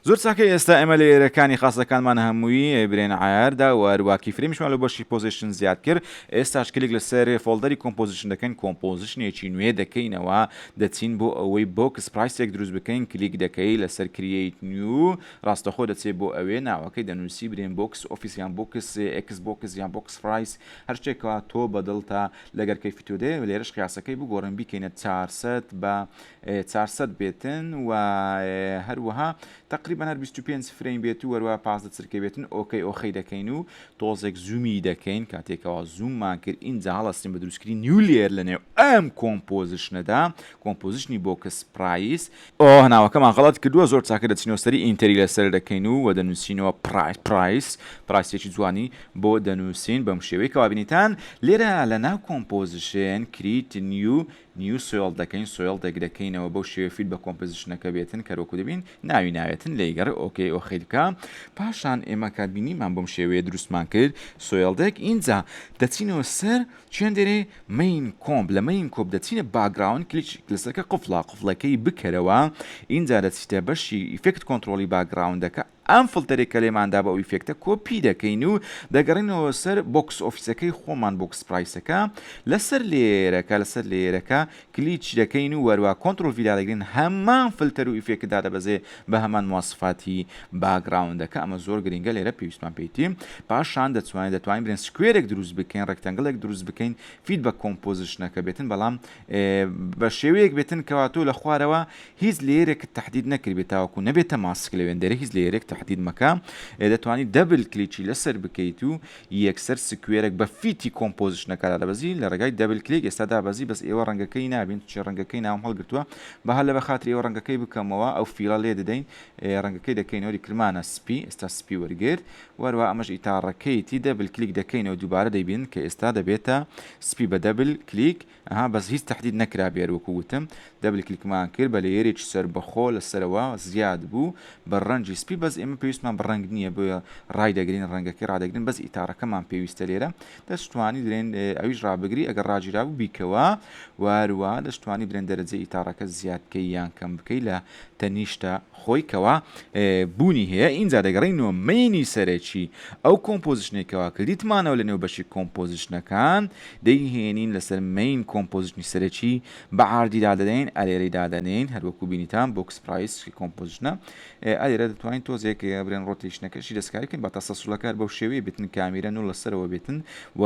زۆر ساکە ئێستا ئەمە لە ئێرەکانی خاستەکانمان هەمووی برێن ئایاردا وارواکی فرمشمان لە بەشی پۆزیشن زیاد کرد ئێستاش کلێک لەسەر فۆلدەری کۆمپۆزیشن دەکەین کۆمپۆزیشنێکی نوێ دەکەینەوە دەچین بۆ ئەوەی بۆکس پرایسێک دروست بکەین کلیک دەکەی لەسەر کریت نیو ڕاستەخۆ دەچێ بۆ ئەوێ ناوەکەی دەنووسی برێن بۆکس ئۆفیسیان بۆکس ئەکس بۆکس یان بۆکس پرایس هەر شتێکەوە تۆ بەدڵ تا لەگەر کەیفی تۆ دێ لێرەش قیاسەکەی بگۆڕن بیکەینە چارسەد بە چارسەد بێتن و هەروەها تقریبا هەر 25 فرەین بێت و وەروە پازدە چرکە بێتن ئۆکەی ئۆخەی دەکەین و تۆزێک زوومی دەکەین کاتێکەوە زووممان کرد ئینجا هەڵستین بە دروستکردنی نیو لێر لەنێو ئەم کۆمپۆزیشنەدا کۆمپۆزیشنی بۆکس پرایس ئۆه ناوەکەمان غەڵەت کردوە زۆر چاکە دەچینەوە سەری ئینتەری لەسەر دەکەین و وە دەنوسینەوە پڕای پڕایس پڕایسێکی جوانی بۆ دەنوسین بەم شێوەی کەوا بینیتان لێرە لەناو کۆمپۆزشێن کریت نیو نیو سۆێڵ دەکەین سۆێڵ دەک دەکەینەوە بەو شێوەی فیت بە کۆمپزشنەکە بێتن کەر وەکو دەبین ناوی ناوێتن لێی گەڕێ ئۆکەی ئۆخیلکە پاشان ئێمە کات بینیمان بۆم شێوەیە دروستمان کرد سۆێڵ دەک ئینجا دەچینەوە سەر چێندێرێ مەین کۆمپ لە مەین کۆپ دەچینە باگراوند کلیچ لەسەرکە قفڵە قفڵەکەی بکەرەوە ئینجا دەچیتە بەشی ئیفێکت کۆنتڕۆڵی باگراوندەکە ئەم فڵتەرەی کە لێمان دابە ئەو ئیفێکتە کۆپی دەکەین و دەگەڕێنەوە سەر بۆکس ئۆفیسەکەی خۆمان بۆکس پرایسەکە لەسەر لێیەرەکە لەسەر لێیەرەکە کلیچ دەکەین و وەروا کۆنتڕۆڵ ڤی دادەگرین هەمان فلتەر و ئیفێکت دادەبەزێ بە هەمان مواسفاتی باگڕاوندەکە ئەمە زۆر گرینگە لێرە پێویستمان پێیتی پاشان دەتوانێت دەتوانین برێن سکوێرێک دروست بکەین ڕێکتەنگڵێک دروست بکەین فیت بە کۆمپۆزیشنەکە بێتن بەڵام بە شێوەیەک بێتن کەوا تۆ لە خوارەوە هیچ لێرێکت تهدید نەکرد بێت تاوەکو نەبێتە ماسک لە وێندەرە هیچ لێرێک تهدید مەکە دەتوانانی دەبل کلیچی لەسەر بکەیت و یەکسەر سکوێرەک بە فیتی کۆمپۆزیشنەکە دادەبەزی لە ڕێگای دەبل کلیک ئێستا دابەزی بەس ئێوە ڕەنگەکەی نابین چونکە ڕەنگەکەی ناوم هەڵگرتووە با هەر لەبەر خاتری ئێوە ڕەنگەکەی بکەمەوە ئەو فیڵە لێ دەدەین ڕەنگەکەی دەکەینەوە ریکلمانە سپی ئێستا سپی وەرگرت و هەروە ئەمەش ئیتاڕەکەیتی دەبل کلیک دەکەینەوە دووبارە دەیبینن کە ئێستا دەبێتە سپی بە دەبل کلیک ئەها بەس هیچ تەحدید نەکرا بێر وەکو وتم دەبل کلیکمان کرد بە لەیەرێکی سەربەخۆ لە سەرەوە زیاد بوو بە ڕەنگی سپی بەس ئێمە پێویستمان بە ڕەنگ نییە بۆیە ڕایدەگرین ڕەنگەکەی ڕادەگرین بەس ئیتاڕەکەمان پێویستە لێرە دەشتوانی درێن ئەویش ڕابگری ئەگەر ڕاگیرابوو بیکەوە وە هەروەها دەشتوانی درێن دەرەجەی ئیتاڕەکە زیاد بکەی یان کەم بکەی لە تەنیشتە خۆی کەوا بوونی هەیە ئینجا دەگەڕێینەوە مەینی سەرەکی ئەو کۆمپۆزیشنەی کەوا کردیتمانەوە لە نێو بەشی کۆمپۆزیشنەکان دەیهێنین لەسەر مەین کۆمپۆزیشنی سەرەکی بە ئاردی دادەنێین ئەرێرەی دادەنێین هەروەکو بینیتان بۆکس پرایس کۆمپۆزیشنە ئەرێرە دەتوانین تۆزێک برێن ڕۆتیشنەکەشی دەستکاریکن بە تەسەسولەکار بەو شێوەیە بتن کامیرە نو لەسەرەوە بێتن و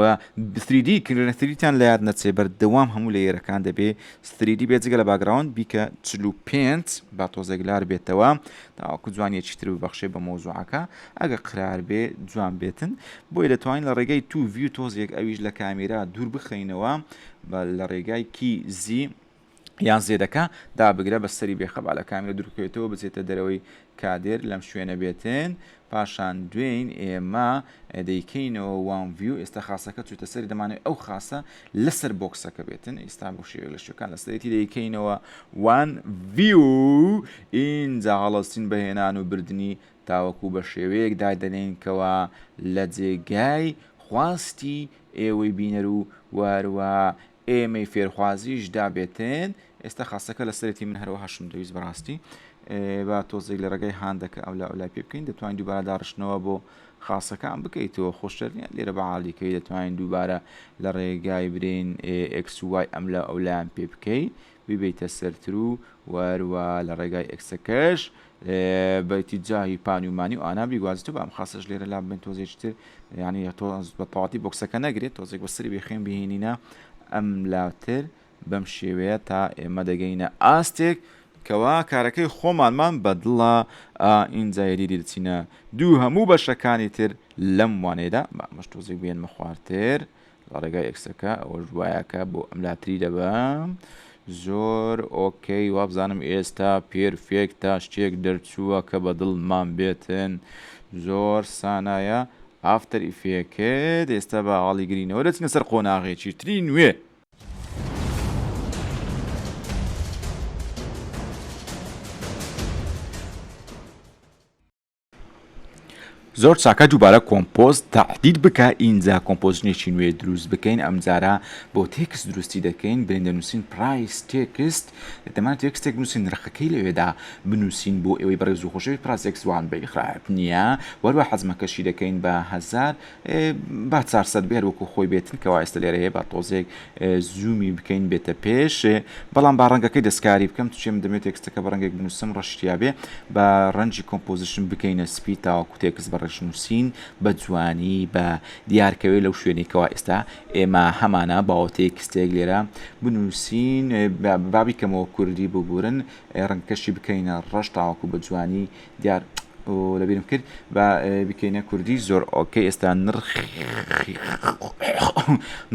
بسریدی کردنەتریتان لە یاد نەچێ بەردەوام هەموو لە یێرەکان دەبێ ستریدی بێ جگە لە باگراوند بیکە چل و پێنج با تۆزێک لار بێتەوە تاوەکو جوانیەکی تر ببەخشێ بە مۆزوعەکە ئەگە قرار بێ جوان بێتن بۆی دەتوانین لە ڕێگەی تو ویو تۆزێک ئەویش لە کامیرا دوور بخەینەوە لە ڕێگای کی زی یان زێدەکە دابگرە بە سەری بێخەبا لە کامیرە دوورکەوێتەوە بچێتە دەرەوەی کادر لەم شوێنە بێتن پاشان دوێین ئێمە دەیکەینەوە وان ڤیو ئێستا خاصەکە چوتە سەری دەمانێت ئەو خاصە لەسەر بۆکسەکە بێتن ئێستا بۆ شێوێک لە شوێکان لەسەرێتی دەیکەینەوە وان ڤیو ئینجا هەڵەستین بەهێنان و بردننی تاوەکو بە شێوەیەک دادەنین کەوا لە جێگای خواستی ئێوەی بینەر و واروا ئێمەی فێرخوازیش دابێتێن ئێستا خاستەکە لە سەرێتی من هەرەوە هەشم دەویست بەڕاستی با تۆزێک لە ڕێگەی هاندەکە ئەو لا ئەولای پێ بکەین دەتوانین دووبارە داڕشتنەوە بۆ خاصەکان بکەیتەوە خۆشترنیە لێرە بەعالیکەی دەتوانین دووبارە لە ڕێگای برین ئەکسوای ئەم لە ئەولایان پێ بکەیت ببیتە سەرترو وەر وا لە ڕێگای ئێکسەکەش بەیتی جاهی پانی و مانی و ئانا بیگوازی تۆ بام خاسەش لێرە لام بن تۆزێکی تر یعنی تۆ بە تەواتی بۆکسەکە نەگرێت تۆزێک بە سری بێخێن بهێنینە ئەم لاوتر بەم شێوەیە تا ئێمە دەگەینە ئاستێک کەوا کارەکەی خۆمانمان بەدڵە ئینجا یەدیدی دەچینە دوو هەموو بەشەکانی تر لەم وانەیەدا بە ئەمەش تۆزێک بێنمە خوارتر لە ڕێگای ئێکسەکە ئەوەش دوایەکە بۆ ئەم لاتری دەبەم زۆر ئۆکەی وابزانم ئێستا پێرفێک تا شتێک دەرچووە کە بە دڵمان بێتن زۆر سانایە ئافتەر ئیفێکت ئێستا بە هەڵی گرینەوە دەچنە سەر قۆناغێکی تری نوێ زۆر چاکە دووبارە کۆمپۆست تاعدید بکە ئینجا کۆمپۆزنێکی نوێ دروست بکەین ئەمجارە بۆ تێکس دروستی دەکەین بێن دەنووسین پرایس تێکست دەمان تێکستێک بنووسین نرخەکەی لەوێدا بنووسین بۆ ئەوەی بەڕێز و خۆشەوی پراسێکسوان بەیخراپ نییە وەروە حەزمەکەشی دەکەین بە هزار با چار سەد بێر وەکو خۆی بێتن کەوا ئێستا لێرە هەیە با تۆزێک زوومی بکەین بێتە پێش بەڵام با ڕەنگەکەی دەستکاری بکەم توچێ من دەمێت تێکستەکە بە ڕەنگێک بنووسم ڕشتیاێ بە ڕەنجی کۆمپۆزیشن بکەینە سپی تاوەکو تێکس بە ڕێش نووسین بە جوانی بە دیارکەوێت لەو شوێنێکەوە ئێستا ئێمە هەمانە باوە تێکستێک لێرە بنووسین بابی کەمەوە کوردی ببورن ڕنگکەشی بکەینە ڕەش تاوەکو بە جوانی دیار لە بیرم کرد با بکەینە کوردی زۆر ئۆکەی ئێستا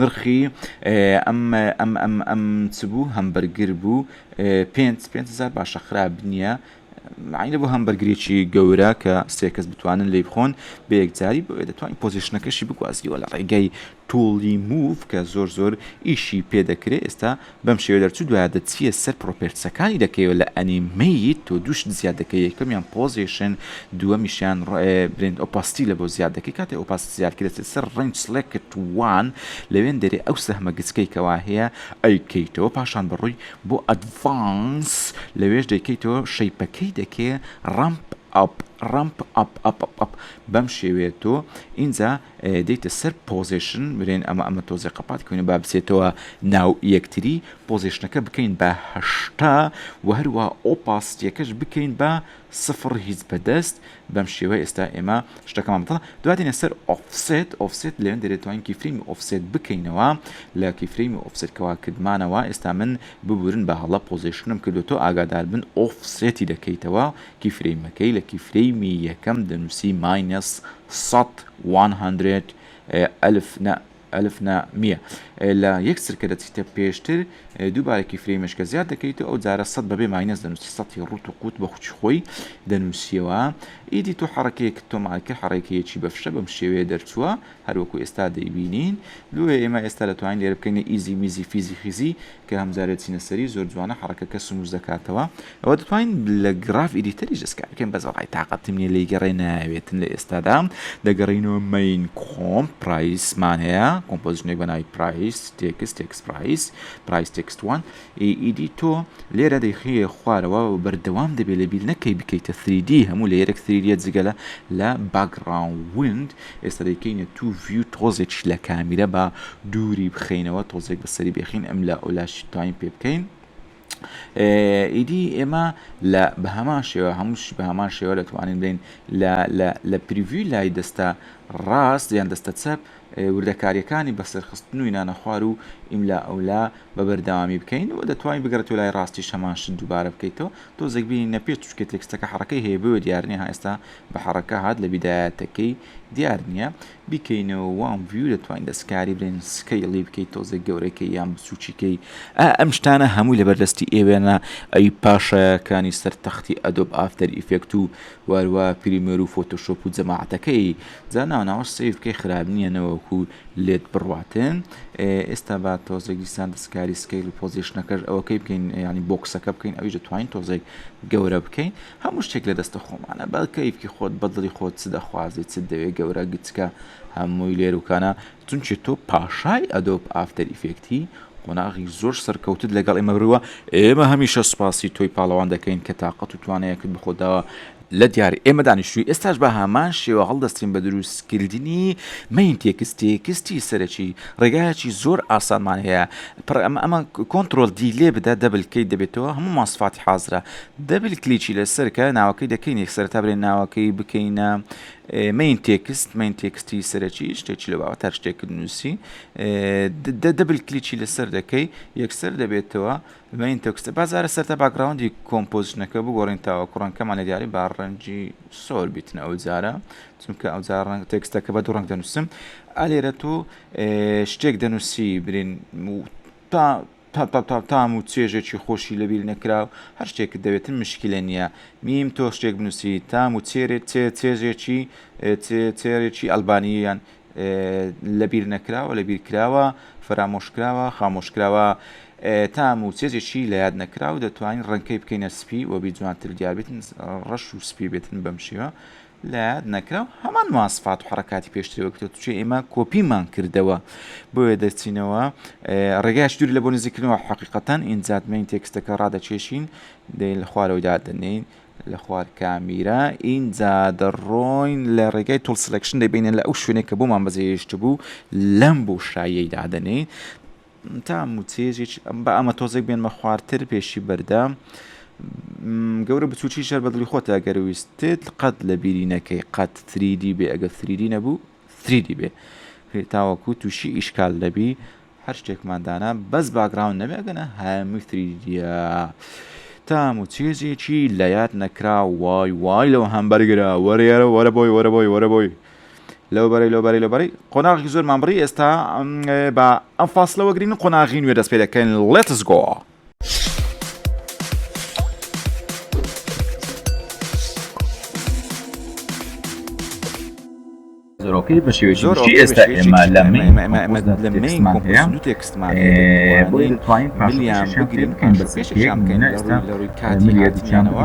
نرخی ئەم ئەم ئەم ئەم چ بوو هەم بەرگر بوو پێ پێزار باشە خراپ نییە معنی بۆ هەم بەرگریی گەورە کە سێکەس بتوانن لی بخۆن بە یەکجاری بۆێ دەتوانین پۆزیشنەکەشی بگوازیەوە لە ڕێگەی توڵی موو کە زۆر زۆر ئیشی پێ دەکرێ ئێستا بەم شێوە دەرچوو دوایە دەچیە سەر پڕۆپێرتسەکانی دەکەیەوە لە ئەنیمەیت تۆ دوو شت زیاد دەکەی یەکەمیان پۆزێشن دووەمیشیان برێند ئۆپاستی لە بۆ زیاد دەکەی کاتێ ئۆپاستی زیاد کرد دەچێت سەر ڕەنج سڵێکت وان لەوێن دەرێ ئەو سەهمە گچکەی کەوا هەیە ئەیکەیتەوە پاشان بەڕۆی بۆ ئەدڤانس لەوێش دەیکەیتەوە شەیپەکەی دەکەی ڕەمپ ئەپ ڕەمپ ئەپ ئەپ ئەپ ئەپ بەم شێوەیە تۆ ئینجا دێیتە سەر پۆزێشن برێن ئەمە ئەمە تۆزێ قەپات کەوێنە با بچێتەوە ناو یەکتری پۆزێشنەکە بکەین بە هەشتا وە هەروە ئۆپاسیتیەکەش بکەین بە سفڕ هیچ بەدەست بەم شێوە ئێستا ئێمە شتەکەمان بەتەڵە دوا دێنە سەر ئۆفسێت ئۆفسێت لێن دەێت توانین کیفرەیمی ئۆفسێت بکەینەوە لە کیفرەیمی ئۆفسێت کەوا کردمانەوە ئێستا من ببورن بە هەڵە پۆزێشنم کردو تۆ ئاگادار بن ئۆفسێتی دەکەیتەوە کیفرەیمەکەی لە کیفرەیمی یەکەم دەنووسی ماینەس سەد، وان هەندرێد، ئەلف نە، الف نە، میە، لە یەک چرکە دەچیتە پێشتر، دووبارەکی فرەی مشکە زیاد دەکەیتەوە، ئەو جارە سەد بەبێ ماینەس دەنووسی، سەتی ڕووت و قووت بەخووکی خۆی دەنووسیەوە، ئیدی تۆ حەڕەکەیەکت تۆمار کرد، حەڕەکەیەکی بەفشە بەم شێوەیە دەرچووە، هەروەکو ئێستا دەیبینین، بۆیە ئێمە ئێستا دەتوانین لێرە بکەینە ئیزی میزی فیزی خیزی، کە هەم جارێ چینە سەری زۆر جوانە حەڕەکەکە سموس دەکاتەوە ئەوە دەتوانین لە گڕاف ئیدیتەریش دەست کار بکەین بەس وەڵای تاقەتم نیە لێی گەڕێ نایەوێتن لە ئێستادا دەگەڕینەوە مین کۆم پرایسمان هەیە کۆمپۆزیشنێک بە ناوی پرایس تێکس تێکس پرایس پرایس تێکست وان ئیدی تۆ لێرە دەیخەیە خوارەوە بەردەوام دەبێت لە بیر نەکەی بکەیتە 3D هەموو لە یەرەک 3D جگەلە لە باگڕاون وند ئێستا دەیکەینە توو ڤیو تۆزێکیش لە کامیرە با دووری بخەینەوە تۆزێک بە سەری بێخین ئەم لا ئەولاشی تایم پێ بکەین ئیدی ئێمە لە بە هەمان شێوە هەمووشی بە هەمان شێوە دەتوانین بین لە پریڤوی لای دەستە ڕاست یان دەستە چەپ وردەکاریەکانی بەسەرخستن و نانە خوار و ئیملا ئەولا بە بەردەوامی بکەین و دەتوانین بگەڕێت لای ڕاستی شەمانش دووبارە بکەیتەوە تۆزێک بینی نەپێت چکە تێکستەکە حڕەکەی هەیە بۆ دیارنی ها ئێستا بە حەڕەکە هات لە بیدایەتەکەی دیار نیە. بیکەینەوە وان ڤیو دەتوانی دەستکاری بلێن سکەیڵی بکەی تۆزێک گەورەکەی یان بچوکی کەی ئا ئەم شتانە هەمووی لەبەر دەستی ئێوەیە ئەوی پاشایەکانی سەر تەختی ئەدۆب ئافتەر ئیفێکت و واروا پریمێر و فۆتۆشۆپ و جەماعەتەکەی جا ناو ناوەش سەیر بکەی خراپ نیە نەوەکو لێت بڕواتن ئێستا با تۆزێک دیسان دەستکاری سکەیڵ و پۆزێشنەکەش ئەوەکەی بکەین یانی بۆکسەکە بکەین ئەویش دەتوانین تۆزێک گەورە بکەین. هەموو شتێک لە دەستە خۆمانە بە کەیفکی خۆت بە دڵی خۆت چ دەخوازی چت دەوێ گەورە گچکە هەمووی لێروکانە چونکی تۆ پاشای ئەدۆب ئافتەر ئیفێکتی قۆناغی زۆر سەرکەوتت لەگەڵ ئێمە بروە ئێمە هەمیشە سوپاسی تۆی پاڵەوان دەکەین کە تاقەت و توانایەکت بە خۆت داوە لە دیاری ئێمە دانیشتوی ئێستاش بە هەمان شێوە هەڵدەستین بە دروست کردنی مەین تێکست تێکستی سەرەکی ڕێگایەکی زۆر ئاسانمان هەیە پڕ ئەمە ئەمە کۆنتڕۆڵ دیلێ بدە دەبل کەیت دەبێتەوە هەموومان سفاتی حازرە دەبل کلیکی لەسەر کە ناوەکەی دەکەین یەک سەرتا بلێن ناوەکەی بکەینە مین تێکست مین تێکستی سەرەکی شتێکی لە باوە تا شتێک نووسی دەبل کلیکی لەسەر دەکەی یەکسەر دەبێتەوە مین تێکستە بازارە سەرتا باگراوندی کۆمپۆزشنەکە بگۆڕین تاوە کوڕنکەمان لە دیاری با ڕەنجی سۆر بیتن ئەو جارە چونکە ئەو جار ڕەنگ تێکستەکە بە دوو ڕەنگ دەنووسم ئالێرە تۆ شتێک دەنووسی برین تا تا تا تا تام و چێژێکی خۆشی لە بیر نەکراو هەر شتێکت دەوێتن مشکلە نیە میم تۆ شتێک بنوسی تام و چێرێ چێ چێژێکی چێ چێرێکی ئەلبانییان لە بیر نەکراوە لە بیر کراوە فەرامۆش کراوە خامۆش کراوە تام و چێژێکی لە یاد نەکراو دەتوانین ڕەنکەی بکەینە سپی و بی جوانتر دیاربێتن ڕەش و سپی بێتن بەم شێوە لەیاد نەکراو هەمان مواسفات و حەڕەکاتی پێشتری وەرگرتووە چونکە ئێمە کۆپیمان کردەوە بۆیە دەچینەوە ڕێگایش دوور لە بۆ نزیکردنەوە حەقیقەتەن ئینجا دوێنی تێکستەکە ڕادەکێشین دەین لە خوارەوەی دادەنین لە خوار کامیرا ئینجا دەڕۆین لە ڕێگای تۆڵ سلکشن دەبینێن لە ئەو شوێنێک کە بۆمان بەجێهێشت بوو لەم بۆشاییەی دادەنین تام و چێژێکی بە ئەمە تۆزێک بێنمە خوارتر پێشی بەردە گەورە بچوکی شەر بەدڵی خۆتە گەرویستت قەت لە بیری نەکەی قەت تریدی بێ ئەگە سریدی نەبوو سریدی بێ تاوەکو تووشی ئیشکال دەبی هەر شتێکماندانا بەس باگراون نەبێ گەنە هەمووی سریدیە تام و چێژێکی لە یاد نەکرا وای وای لەو هەمبەرگرا وەرێرە وەرە بۆی وەرە بۆی وەرە بۆی لەوبەرەی لەوبەرەی لەبەری قۆناغی زۆرمان بڕی ئێستا بە ئەم فاصلەوە گرین و قۆناغی نوێ دەست پێ دەکەین لێتس گۆ. زۆرۆکەی بە شێوەی ئێستا ئێمە لە لەمان هەیە دو تێکستمان بۆی دەتوانین پاشیان بگرین بەسێشیان بکەین لە ڕووی لە ڕووی کاتیانەوە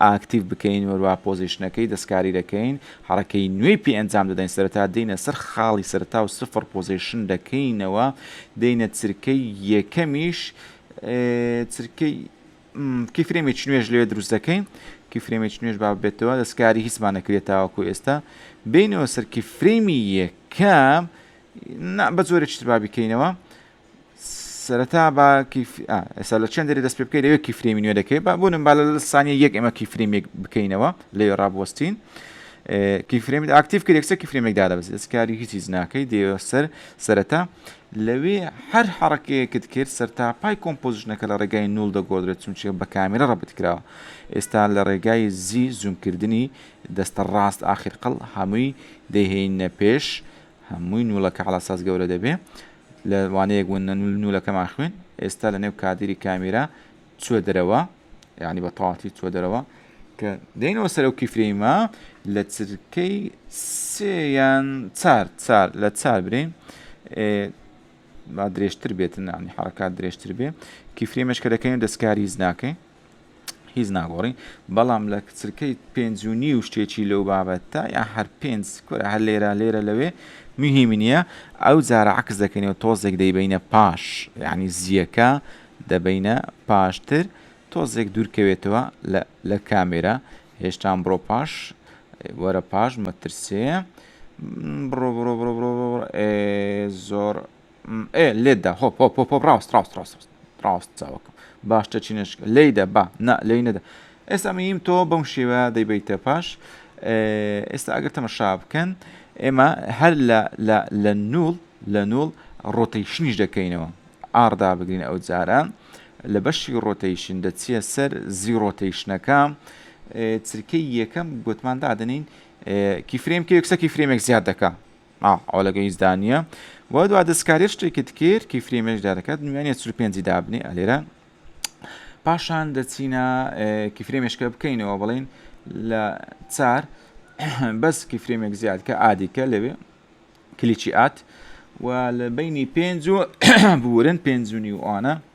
ئاکتیڤ بکەین وەروا پۆزیشنەکەی دەستکاری دەکەین حەڕەکەی نوێی پێ ئەنجام دەدەین سەرەتا دێینە سەر خاڵی سەرەتا و سفڕ پۆزیشن دەکەینەوە دێینە چرکەی یەکەمیش چرکەی کیفرێمێکی نوێش لەوێ دروست دەکەین کیفرێمێکی نوێش با بێتەوە دەستکاری هیچمان نەکرێت تاوەکو ئێستا بینەوە سەر کیفرێمی یەکەم بە زۆرە چتر با بکەینەوە سەرەتا با کیف ئا ئێستا لە چەند دەری دەست پێ بکەی لەوێ کیفرێمی نوێ دەکەی با بۆ نمبا لە سانیە یەک ئێمە کیفرێمێک بکەینەوە لەوێ ڕابوەستین کیفرێمی ئاکتیف کرد یەکسەر کیفرێمێک دادەبەزی دەستکاری هیچیز ناکەی دێوە سەر سەرەتا لەوێ هەر حڕەکەیەکت کرد سەر تا پای کۆمپۆزیشنەکە لە ڕێگای نول دەگۆدرێت چونچە بە کامێرە ڕەبت کراوە ئێستا لە ڕێگای زی زومکردنی دەستە ڕاست ئاخر قەڵ هەمووی دەهێنە پێش هەمووی نوڵەکە حڵاساز گەورە دەبێ لە وانەیەک بوون نە نول نولەکەمان خوێند ئێستا لە نێو کادیری کامیرا چوە دەرەوە یعنی بە تەواتی چوە دەرەوە کە دەینەوە سەرەو کیفرەیمە لە چرکەی سێیان چار چار لە چار برین با درێژتر بێتن نامی حرکات درێژتر بێ کیفرەیمەش کە دەکەین دەستکاری زناکەین هیچ ناگۆڕین بەڵام لە کچرکەی پێنج و نیو شتێکی لەو بابەتە یا هەر پێنج کورە هەر لێرە لێرە لەوێ مهیم نییە ئەو جارە عکس دەکەینەوە تۆزێک دەیبینە پاش یعنی زیەکە دەبینە پاشتر تۆزێک دوورکەوێتەوە لە کامێرە هێشتان بڕۆ پاش وەرە پاش مەترسێ بڕۆ بڕۆ بڕۆ بڕۆ زۆر ئێ لێت دا هۆپ هۆپ هۆپ هۆپ ڕاست ڕاست ڕاست ڕاست ڕاست چاوەکەم باشتر چی نشکە لی دە با نا لی نەدە ئێستا میم تۆ بەم شێوە دەیبیتە پاش ئێستا ئەگەر تەمەشا بکەن ئێمە هەر لە نول لە نول ڕۆتەیشنیش دەکەینەوە ئاردا بگرین ئەو جارە لە بەشی ڕۆتەیشن دەچیە سەر زی ڕۆتەیشنەکە چرکەی یەکەم گوتمان دادنین کیفرێم کە یەکسەکی فرێمێک زیاد دەکە ئاه ئەوە لەگەڵ هیچ دانییە بۆ دوا دەستکاریە شتێکت کرد کی فری مێش دارەکەت نوێنێ چ پێنجی دابنێ ئەلێرە پاشان دەچینە کیفرێ مێشکە بکەینەوە بڵین لە چار بەس کیفرێمێک زیاد کە ئادیکە لەوێ کلیچی ئات و لە بینی پێنج و بورن پێنجونی و ئەوانە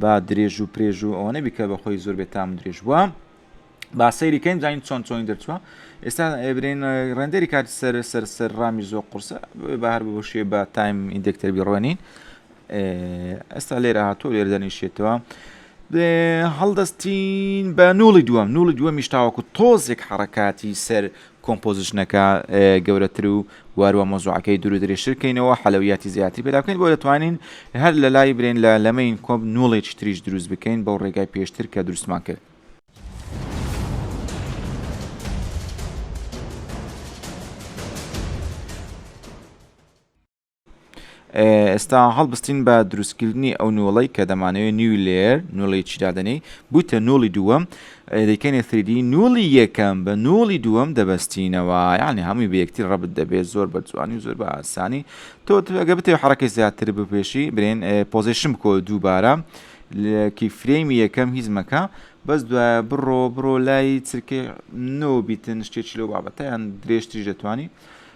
با درێژ و پرێژ و ئەوە نەبی کە بەخۆی زۆر بێت تام درێژ بووە با سەیری کەین زانین چۆن چۆنی دەرچووە ئێستا ئەبرین ڕێندەری کاتی سەر سەر سەر ڕامی زۆر قرسە بە هەر بەشێ بە تایم ئیندێکتەر بیڕۆنین ئێستا لێرە هاتووە لێر دەنیشێتەوە هەڵدەستین بە نوڵی دووەم نوڵی دووەمیش تاوەکو تۆزێک حڕکاتی سەر کۆمپۆزیشنەکە گەورەتر و وهەروە مەوزوعەکەی دوور و درێژتر کەینەوە حەلەویاتی زیاتری پێدا بکەین بۆ دەتوانین هەر لە لای برێن لە لەمەین کۆم نوڵێکی تریش دروست بکەین بەو ڕێگای پێشتر کە دروستمان کرد. ئێستا هەڵبستین بە دروستکردنی ئەو نۆڵەی کە دەمانەوەی نیوی لێر نۆڵی چیدادەنەی بوویتە نۆڵی دووەم دەکەنێ سریدی نۆڵی یەکەم بە نۆڵی دووەم دەبستینەوە یعنی هەمووی بە یەکتی ڕبت دەبێت زۆر بە جوانی زۆر بە ئاسانی تۆ ئەگە بتێ حرەکەی زیاتر بپێشی برێن پۆزیشن بکۆ دووبارە کی فرێمی یەکەم هیچ مەکە بەس دوایە بڕۆ بڕۆ لای چرکەی نۆ بیتن شتێکی لەو بابەتیان درێژتری دەتوانانی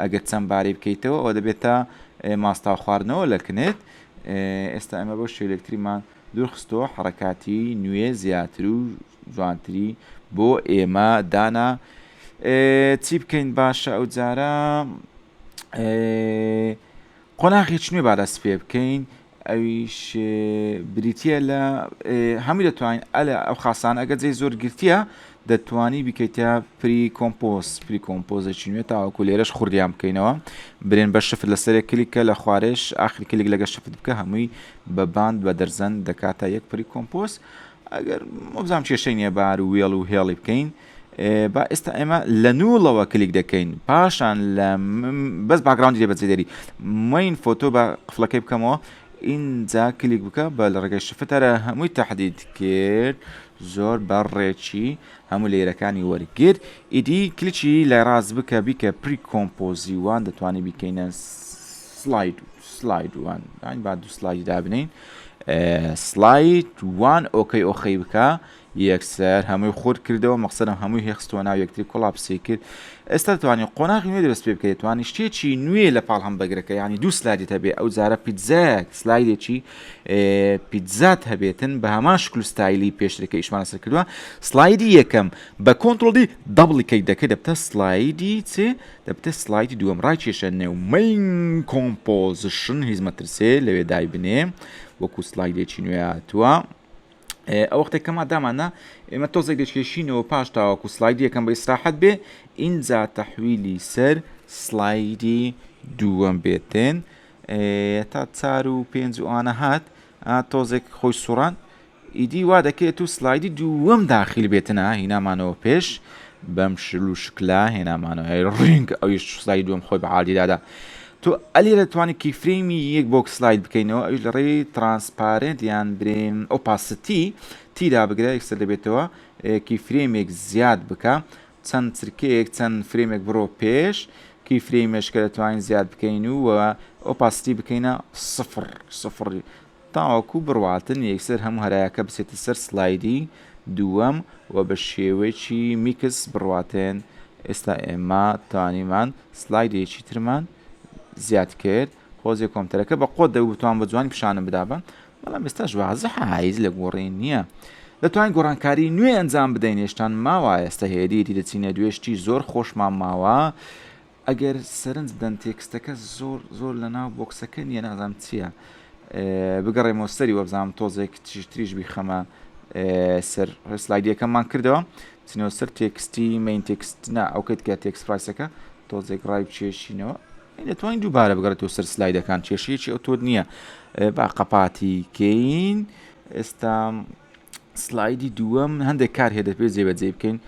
ئەگەر چەند بارەی بکەیتەوە ئەوە دەبێتە ماستاو خواردنەوە لە کنت ئێستا ئەمە بۆ شێلکتریمان دوورخستەوە حڕکاتی نوێ زیاتر و جوانتری بۆ ئێمە دانا چی بکەین باشە ئەو جارە قۆناغی چنوێ بارە سپێ بکەین ئەویش بریتیە لە هەمووی دەتوانین ئەلە ئەو خاسانە ئەگە جێی زۆر گرتیە دەتوانی بیکەیتە پری کۆمپۆز پری کۆمپۆزێکی نوێ تاوەکو لێرەش خوردیان بکەینەوە برێن بە شفت لە سەرێک کلیکە لە خوارێش ئاخر کلیک لەگە شفت بکە هەمووی بە باند بە دەرزەن دەکاتە یەک پری کۆمپۆز ئەگەر مۆبزانام کێشەی نیە بار و وێڵ و هێڵی بکەین با ئێستا ئێمە لە نووڵەوە کلیک دەکەین پاشان لە بەس باگراوندی لێ بەجێ دەری مین فۆتۆ بە قفلەکەی بکەمەوە ئینجا کلیک بکە بە لە ڕێگەی شفتەرە هەمووی تهدید کرد زۆر بە ڕێکی هەموو لێرەکانی وەرگرت ئیدی کلیچی لای ڕاست بکە بیکە پری کۆمپۆزی وان دەتوانانی بیکەینە سلاید سلاید وان با دو سلایدی دابنین سلایت وان ئۆکەی ئۆخەی بکە یەکسەر هەمووی خورد کردەوە مەقسەدم هەمووی هێ خستووە ناو یەکتری کۆڵاپسی کرد ئێستا دەتوانی قۆناغی نوێ دروست پێ بکەی دەتوانی شتێکی نوێ لە پاڵ هەمبەگرەکە یانی دوو سلایدت هەبێ ئەو جارە پیتزایەک سلایدێکی پیتزات هەبێتن بە هەمان شکل و ستایلی پێشتر کە ئیشمان لەسەر کردووە سلایدی یەکەم بە کۆنترۆڵ دی دەبڵی کەی دەکەی دەبتە سلایدی چ دەبتە سلایدی دووەم ڕای کێشە نێو مین کۆمپۆزیشن هیچ مەترسێ لەوێ دایبنێ وەکو سلایدێکی نوێ هاتووە ئەوەختێک کە مادامانە ئێمە تۆزێک دەشکێشینەوە پاش تاوەکو سلایدی یەکەم بە ئیسراحەت بێ ئینجا تەحویلی سەر سلایدی دووەم بێتێن تا چار و پێنج وانە هات تۆزێک خۆی سوڕان ئیدی وا دەکرێت و سلایدی دووەم داخیل بێتنا هینامانەوە پێش بەم شل و شکلا هێنامانەوە ڕینگ ئەویش سلای دووەم خۆی بە عادیدادا تۆ ئەلی دەتوانی کیفرەیمی یەک بۆک سلایت بکەینەوە ئەویش لە ڕێی ترانسپارێنت یان برێن ئۆپاستی تی دابگرە یەکسەر دەبێتەوە کیفرەیمێک زیاد بکە چەند چرکەیەک چەند فرەیمێک بڕۆ پێش کیفرەی مێشکە دەتوانین زیاد بکەین و ئۆپاستی بکەینە سفر سفر تاوەکو بڕواتن یەکسەر هەموو هەرایەکە بچێتە سەر سلایدی دووەم و بە شێوەیەکی میکس بڕواتێن ئێستا ئێمە توانیمان سلایدێکی ترمان زیاد کرد خۆزێ کۆمپتەرەکە بە قۆت دەبوو بتوان بە جوانی پیشانم بدابا بەڵام ئێستاش وازحە هایز لە گۆڕی نییە دەتوانین گۆڕانکاری نوێ ئەنجام بدەین هێشتان ماوە ئێستا هێدیدی دەچینە دوێشتی زۆر خۆشمان ماوە ئەگەر سەرنج بدەن تێکستەکە زۆر زۆر لەناو بۆکسەکە نیە نازانم چیە بگەڕێمەوە سەری وەبزانم تۆزێک تریش تریش بیخەمە سەر سلایدیەکەمان کردەوە چنەوە سەر تێکستی مین تێکست نا ئەوکەت کە تێکس پرایسەکە تۆزێک ڕای بچێشینەوە دەتوانین دووبارە بگەڕێتەوە سەر سلایدەکان کێشەیەکی ئەو تۆت نییە با قەپاتی کەین ئێستا سلایدی دووەم هەندێک کار هێدە پێ جێبەجێ بکەین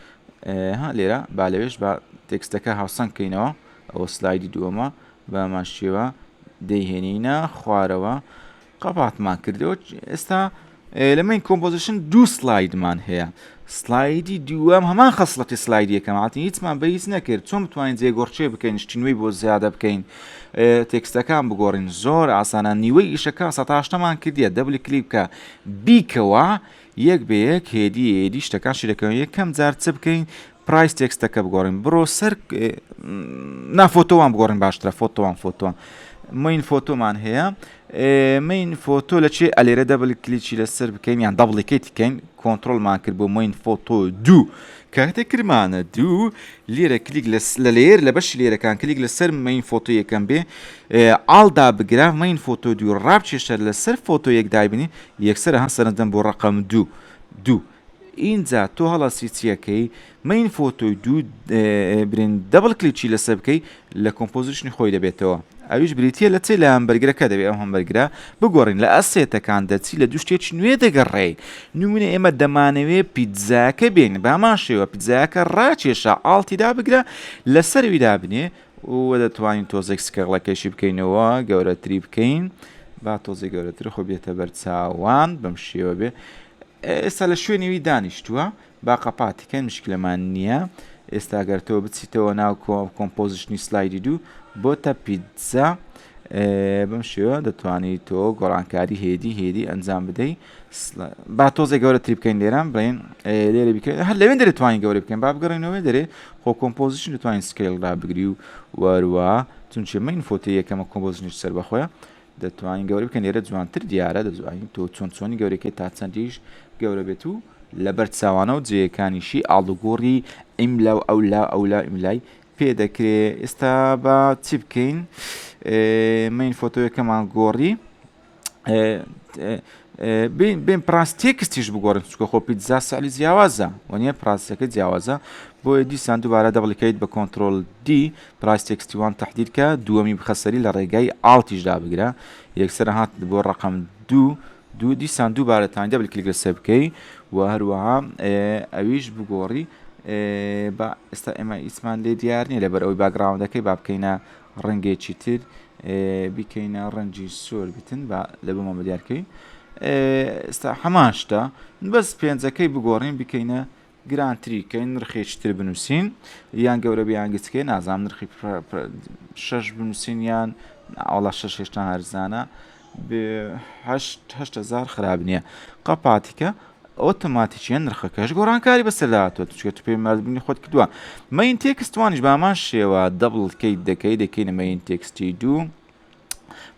ها لێرە با لەوێش با تێکستەکە هاوسەنگ کەینەوە ئەوە سلایدی دووەمە بەمان شێوە دەیهێنینە خوارەوە قەپاتمان کردەوە ئێستا لەمەین کۆمپۆزیشن دوو سلایدمان هەیە سلایدی دووەم هەمان خەسڵەتی سلایدیەکەماتی هیچمان بە هیچ نەکرد چۆن بتوانین جێگۆڕچێ بکەین شتینوی بۆ زیادە بکەین تێکستەکان بگۆڕین زۆر ئاسانە نیوەی ئیشەکە سەتاشتەمان کردە دەبلی کلیپکە بیکەوە یەک بە یەک هێدی هێدی شتەکان شیدەکەم یەکەم جار چ بکەین پرایس تێکستەکە بگۆڕین بڕۆ سەر نافۆتۆوان بگۆڕین باشترە فۆتۆوان فۆتۆوان مین فۆتۆمان هەیە مین فۆتۆ لە چێ ئەلێرە دەبل کلیچی لەسەر بکەین یان دەبڵیکەیت بکەین کۆنتترۆلمان کرد بۆ مین فۆتۆ دوو کاتێک کرمانە دوو لێرە کلیک لە لێر لە بەش لێرەکان کلیک لەسەر مین فۆتۆ یەکەم بێ ئالدا بگرە مین فۆتۆ دوو ڕاب چێشتە لەسەر فۆتۆ یەک دایبنی یەکسەر ئەها سەرنج دەم بۆ ڕەقەم دوو دوو ئینجا تۆ هەڵەسی چیەکەی مەین فۆتۆی دوو برین دەبڵ کلیکی لەسەر بکەی لە کۆمپۆزیشنی خۆی دەبێتەوە ئەویش بریتە لە چی لە هەمبەرگرەکە دەبێت ئەو هەمبەرگرە بگۆڕین لە ئەسێتەکان دەچی لە دوو شتێکی نوێ دەگەڕێی نمونە ئێمە دەمانەوێ پیتزاکە بێن بامان شێوە پیتزاکە ڕاکێشە ئاڵتیدا بگرە لەسەرویدا بنێ و دەتوانین تۆزێک سکەغڵەکەشی بکەینەوە گەورەتری بکەین با تۆزێک گەورەتر خۆ بێتە بەرچاوان بەم شێوە بێ ئێستا لە شوێنیوی دانیشتووە با قەپاتیکەن مشکلەمان نییە ئێستا گەرتەوە بچیتەوە ناو کۆمپۆزیشنی سلایدی دوو بۆتە پیتزا بەم شێوە دەتوانیت تۆ گۆڕانکاری هێدی هێدی ئەنجام بدەیت با تۆزێ گەورە تری بکەین لێران بڵین لێرە بکەین هەر لەوێن دەێت توانین گەورە بکەین با بگەڕێنەوەێ دەێ خۆ کۆمپۆزیشن دەتوانین سکیل را بگری و وەروە چونچێ من فۆتی یەکەمە کۆمپۆزیشنش سەر بەخۆە دەتوانین گەورە بکەن لێرە جوانتر دیارە دەزوانین تۆ چۆن چۆنی گەورەکەی تا چەندیش گەورە بێت و لەبەر چاوانە و جێەکانیشی ئاڵدوگۆڕی ئیملا و ئەولا ئەولا ئیملای پێ دەکرێ ئێستا بە چی بکەین من فۆتۆیەکەمان گۆڕی بێن پراس تێکستیش بگۆڕن چکە خۆ پیتزا سەعلی جیاوازە وەنیە پراسەکە جیاوازە بۆیە دیسان دووبارە دەبڵیکەیت بە کۆنتترۆل دی پراس تێکستیوان تهدیرکە دووەمی بخەسەری لە ڕێگای ئاڵتیشدا بگرە یەکسەر هات بۆ ڕقم دوو دوو دیسان دووبارەتان دەبل کلیک لەسەر بکەی و هەروەها ئەویش بگۆڕی بە ئێستا ئێمە ئیسمان لێ دیار نیە لەبەر ئەوی باگراوندەکەی با بکەینە ڕەنگێکی تر بیکەینە ڕەنجی سۆر بتن با لە بۆمان بەدیارکەی ئستا حەماشتا بەس پێنجەکەی بگۆڕین بکەینە گرانتریکەین نرخێکی تر بنووسین یان گەورە بیان گچکەی نازام نرخی شش بنووسین یان ئاڵا شش هێشتا هەرزانە بێ هەشت هەشت هەزار خراپ نییە قەپاتیکە ئۆتۆماتیکیە نرخەکەش گۆڕانکاری بەسەرداهاتوە چێت پێ مردبنی خۆت کردووە مەین تێکستوانیش بامان شێوە دەبڵکەیت دەکەی دەکەینە مەین تێکستی دوو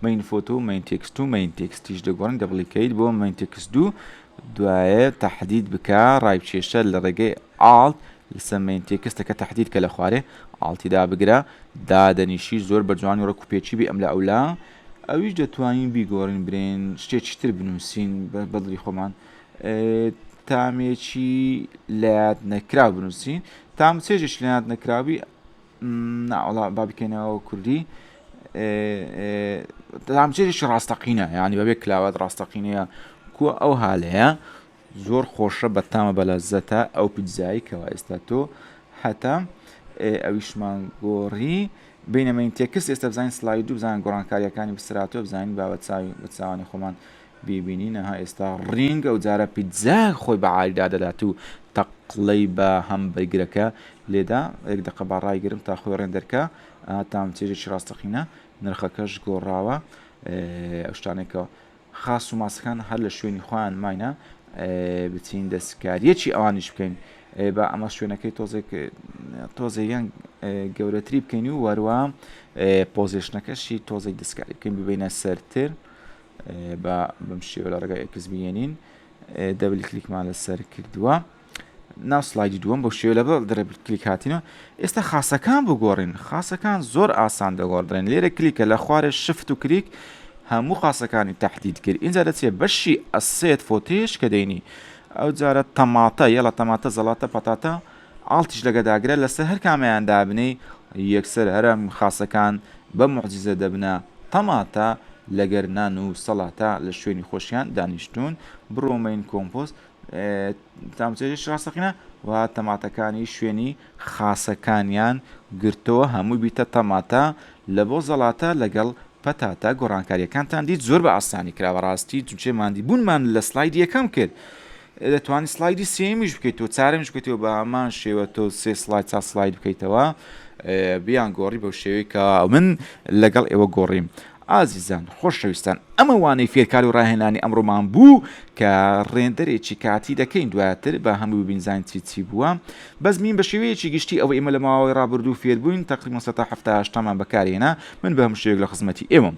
مەین فۆتۆ و مەین تێکست و مەین تێکستیش دەگۆڕن دەبڵیکەیت بۆ مەین تێکست دوو دوایە تهدید بکە ڕای کێشە لە ڕێگەی ئاڵت لەسەر مەین تێکستەکە تهدید کە لە خوارێ ئاڵتیدا بگرە دادەنیشی زۆر بە جوانی ڕکوپێکی بی ئەم لە ئەولا ئەویش دەتوانین بیگۆڕین برێن شتێکی تر بنووسین بەدڵی خۆمان تامێکی لەات نەکرا بنووسین تام چێژش لەات نەکراوی ناوەڵا با بکەینەوە کوردی تامچێژش ڕاستەقینە یعنی بەبێ کلااوات ڕاستەقینەیە کو ئەو هاالەیە زۆر خۆشە بەتامە بەلەزەتە ئەو پیتزایەی کەوا ئێستا تۆ هەتە ئەویشمان گۆڕی بینەمەین تێکس ئێستا بزانین سلایدو بزان گۆڕانکاریەکانی بسراتۆ بزانین با بە چاوی بە چاوانی خۆمان بیبینینەها ئێستا ڕینگ ئەو جارە پیتزا خۆی بە عالیدا دەدات و تەقلەی بە هەم بەرگرەکە لێدا یەک دقە با ڕایگرم تا خۆی ڕێندەرکە تام چێژێکی ڕاستەقینە نرخەکەش گۆڕاوە شتانێکەوە خاس و ماسەکان هەر لە شوێنی خۆیان ماینە بچین دەستکاریەکی ئەوانیش بکەین با ئەمە شوێنەکەی تۆزێک تۆزێیان گەورەتری بکەین و وەروە پۆزیشنەکەشی تۆزێک دەستکاری بکەین ببینە سەرتر بە بەم شێوە لە ڕگای ئەکس بێنین دەبل کلیکمان لەسەر کردووە ناو سلایدی دووەم بۆ شێوە لە بەڵ دەرە کلیک هاتینە ئێستا خاصەکان بگۆڕین خاصەکان زۆر ئاسان دەگۆڕدرێن لێرە کلیکە لە خوارێ شفت و کریک هەموو خاصەکانی تهدید کرد اینجا دەچێ بەشی ئەسێت فۆتێش کە دەینی ئەو جارە تەماتە یەڵە تەماتە زەڵاتە پەتاتە ئاڵتیش لەگەداگرە لەسەر هەر کامیان دابنی یەکسەر هەرم خاصەکان بە معجززە دەبنە تەماتە لەگەر نان و سەڵاتە لە شوێنی خۆشیان دانیشتون بڕۆمەین کۆمپۆست تامچێژیش ڕاستەقینە و تەماتەکانی شوێنی خاسەکانیان گرتەوە هەمووی بیتە تەماتە لە بۆ زەڵاتە لەگەڵ پەتاتە گۆڕانکاریەکانتان دیت زۆر بە ئاسانی کرا بەڕاستی جوچێ ماندی بوونمان لە سلایدی یەکەم کرد دەتوانانی سلایدی سێمیش بکەیت و چارمش بکەیتەوە بە هەمان شێوە تۆ سێ سلاید چا سلاید بکەیتەوە بیان گۆڕی بەو شێوەی کە من لەگەڵ ئێوە گۆڕیم ئازیزان خۆشەویستان ئەمە وانەی فێرکار و ڕاهێنانی ئەمڕۆمان بوو کە ڕێندەرێکی کاتی دەکەین دواتر با هەمووی ببینزانین چی چی بووە بەس مین بەشێوەیەکی گشتی ئەوەی ئێمە لە ماوەی ڕابردوو فێربووین تەقریبەن سەتا حەفتا هەشتامان بەکارهێنا من بە هەموو شێوەیەک لە خزمەتی ئێوەم.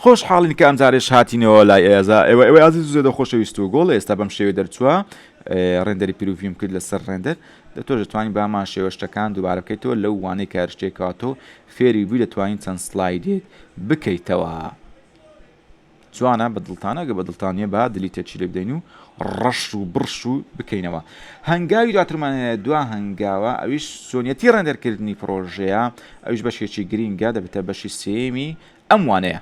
خۆش حاڵین کە ئەمجارەیش هاتینەوە لای ئێزا ئێوە ئێوە ئازیز زێدە خۆشەویست و گۆڵ ئێستا بەم شێوێ دەرچووە ڕێندەری پیرروڤیم کرد لەسەر ڕێندەر دەتۆ دەتوانین بامان شێوە شتەکان دووبارە بکەیتەوە لەو وانەی کارشتێکاتۆ فێری بووی دەتوانین چەند سلایدێک بکەیتەوە جوانە بە دڵتانەگە بە دڵتانە با دلی تێچی لێ بدەین و ڕەش و بڕش و بکەینەوە هەنگاوی دواترمان هەیە دوا هەنگاوە ئەویش سۆنیەتی ڕێندەرکردنی پرۆژەیە ئەویش بەشێکی گرینگە دەبێتە بەشی سێمی ئەم وانەیە.